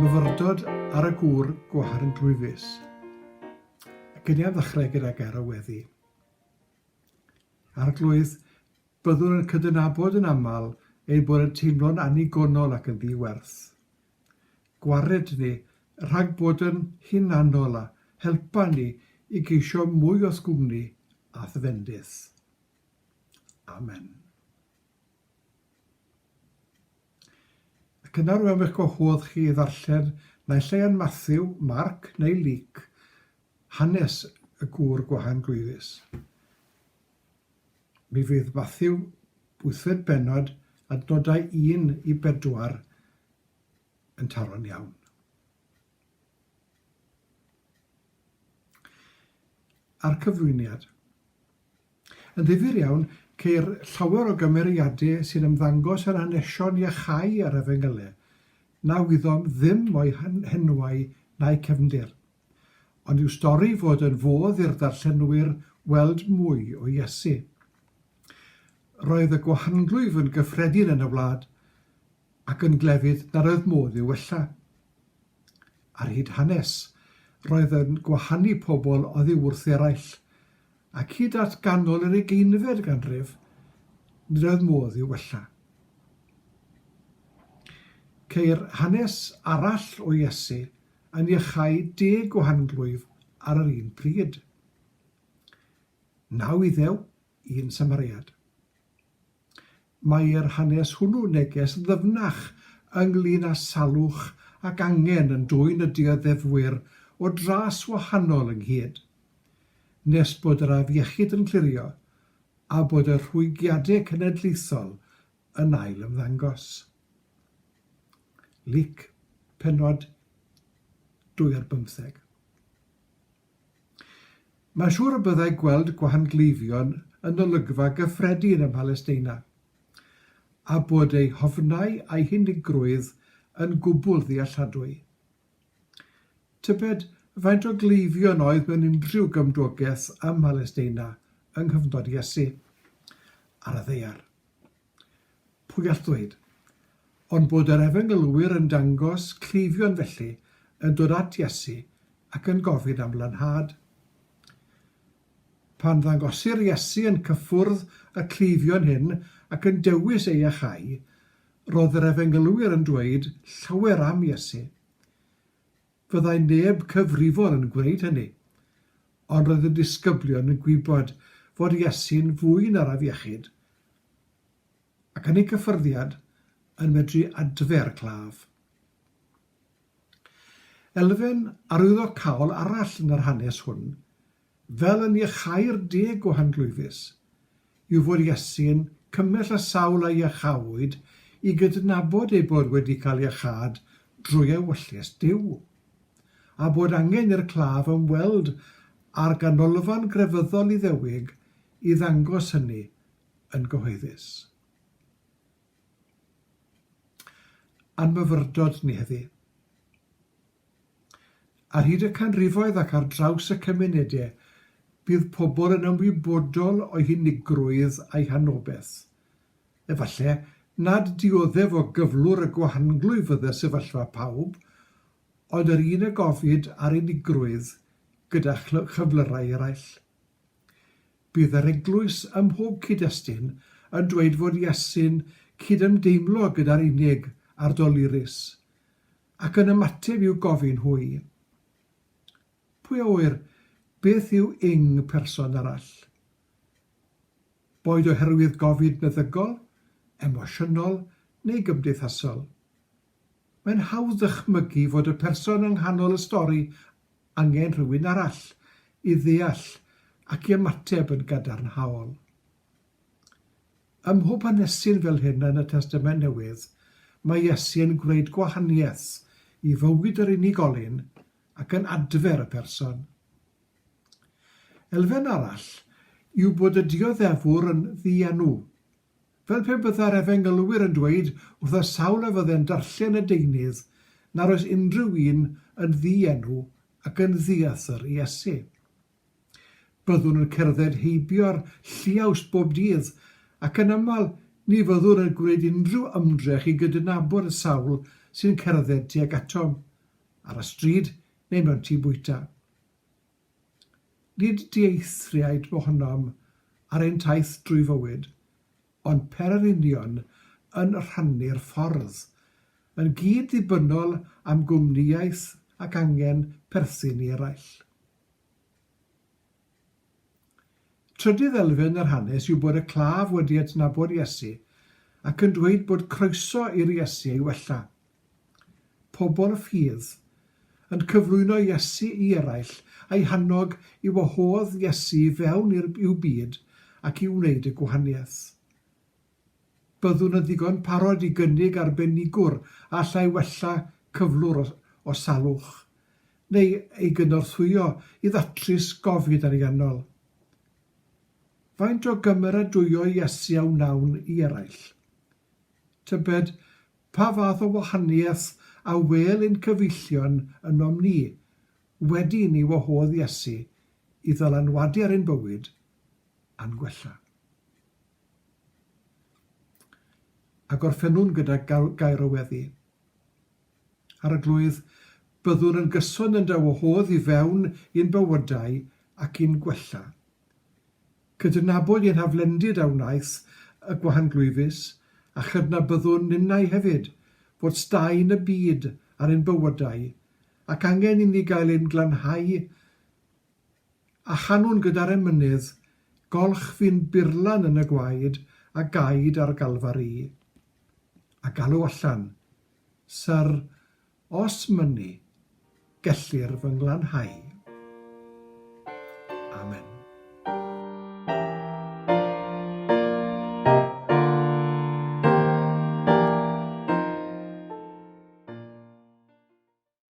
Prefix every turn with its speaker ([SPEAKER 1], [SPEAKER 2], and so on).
[SPEAKER 1] Myfyrdod ar y gŵr gwaharn dwfus. Y cyniad ddechrau gyda ger o weddi. Arglwydd, byddwn yn cydnabod yn aml ein bod yn teimlo'n annigonol ac yn ddi-werth. gwared ni rhag bod yn hunanol a helpa ni i geisio mwy o'th gwmni a'th fendith. Amen. Ac yna rwy'n eich gwahodd chi i ddarllen naill ai yn Matthew, Marc neu Luc hanes y gŵr gwahan glwyfus. Mi fydd Matthew wythfed bennod adnodau un i bedwar yn taro'n iawn. A'r cyflwyniad. Yn ddifyr iawn, ceir llawer o gymeriadau sy'n ymddangos yn hanesion iachau ar Efengylau, na wyddom ddim o'u henwau na'u cefndir. ond yw stori fod yn fodd i'r darllenwyr weld mwy o Iesu. Roedd y gwahanglwyf yn gyffredin yn y wlad, ac yn glefyd nad oedd modd i'w wella. Ar hyd hanes, roedd yn gwahanu pobl oddi wrth eraill, ac hyd at ganol yr ugeinfed ganrif, nid oedd modd i'w wella. Ceir hanes arall o Iesu yn iachau deg o hanglwyf ar yr un pryd. Naw Iddew, un Samariad. Mae'r hanes hwnnw neges ddyfnach ynglŷn â salwch ac angen yn dwyn y dioddefwyr o dras wahanol ynghyd, nes bod yr afiechyd yn clirio a bod y rhwygiadau cenedlaethol yn ail ymddangos. Lyc, pennod 2-15. Mae'n siŵr y byddai gweld gwahangleifion yn olygfa gyffredin ym Mhalesteina, a bod eu hofnau a'u hunigrwydd yn gwbl ddealladwy. Tybed faint o gleifion oedd mewn unrhyw gymdogaeth ym Mhalesteina yng nghyfnod Iesu ar y ddaear? Pwy gall ddweud? Ond bod yr efengylwyr yn dangos cleifion felly yn dod at Iesu ac yn gofyn am lanhad. Pan ddangosir Iesu yn cyffwrdd y cleifion hyn ac yn dewis eu achau, roedd yr efengylwyr yn dweud llawer am Iesu. Fyddai neb cyfrifol yn gwneud hynny. Ond roedd y disgyblion yn gwybod fod Iesu'n fwy na'r afiechyd, ac yn ei gyffyrddiad yn medru adfer claf. Elfen arwyddocaol arall yn yr hanes hwn fel yn iachau'r deg o Hanglwyfus, yw fod Iesu'n cymell y sawl a iachawyd i gydnabod eu bod wedi cael iachâd drwy ewyllys Duw, a bod angen i'r claf ymweld â'r ganolfan grefyddol Iddewig i ddangos hynny yn gyhoeddus. A'n myfyrdod ni heddi. Ar hyd y canrifoedd ac ar draws y cymunedau, bydd pobl yn ymwybodol o'i hunigrwydd a'i hanobeth. Efallai nad dioddef o gyflwr y gwahanglwy fydde sefyllfa pawb, ond yr un a gofid ar unigrwydd gyda chyflyrau eraill. Bydd yr eglwys ym mhob cyd-destun yn dweud fod Iesu'n cydymdeimlo gyda'r unig a'r dolurus. Ac yn ymateb i'w gofyn hwy, Pwy a ŵyr beth yw ing person arall? Boed oherwydd gofid meddygol, emosiynol neu gymdeithasol, mae'n hawdd dychmygu fod y person yng nghanol y stori angen rhywun arall i ddeall ac i ymateb yn gadarnhaol. Ym mhob hanesyn fel hyn yn y Testament Newydd, mae Iesu yn gwneud gwahaniaeth i fywyd yr unigolyn ac yn adfer y person. Elfen arall yw bod y dioddefwr yn ddienw. Fel pe byddai'r Efengylwyr yn dweud wrth y sawl a fydde'n darllen y deunydd nad oes unrhyw un yn ddienw ac yn ddiathr i Iesu. Byddwn yn cerdded heibio'r lliaws bob dydd, ac yn aml ni fyddwn yn gwneud unrhyw ymdrech i gydnabod y sawl sy'n cerdded tuag atom, ar y stryd neu mewn tŷ bwyta. Nid dieithriaid mohonom ar ein taith drwy fywyd, ond pererinion yn rhannu'r ffordd, yn gyd-ddibynnol am gwmnïaeth ac angen perthyn i eraill. Trydydd elfen yr hanes yw bod y claf wedi adnabod Iesu ac yn dweud bod croeso i'r Iesu ei wella. Pobl ffydd, yn cyflwyno Iesu i eraill a'i hannog i wahodd Iesu i fewn i'w byd ac i wneud y gwahaniaeth. Byddwn yn ddigon parod i gynnig arbenigwr a allai wella cyflwr o o salwch, neu ei gynorthwyo i ddatrys gofid ariannol. Faint o gymeradwyo Iesu a wnawn i eraill? Tybed pa fath o wahaniaeth a wêl ein cyfeillion ynom ni, wedi i ni wahodd Iesu i ddylanwadu ar ein bywyd a'n gwella? A gorffennwn gyda gair o weddi. Arglwydd, byddwn yn gyson yn dy wahodd i fewn i'n bywydau ac i'n gwella. Cydnabod ein haflendid a wnaeth y gwahanglwyfus, a chydnabyddwn ninnau hefyd fod staen y byd ar ein bywydau ac angen inni gael ein glanhau A chanwn gyda'r emynydd, Golch fi'n burlan yn y gwaed a gaed ar galfar i. A galw allan, Syr, os mynnu, gellir fy nglanhau. Amen.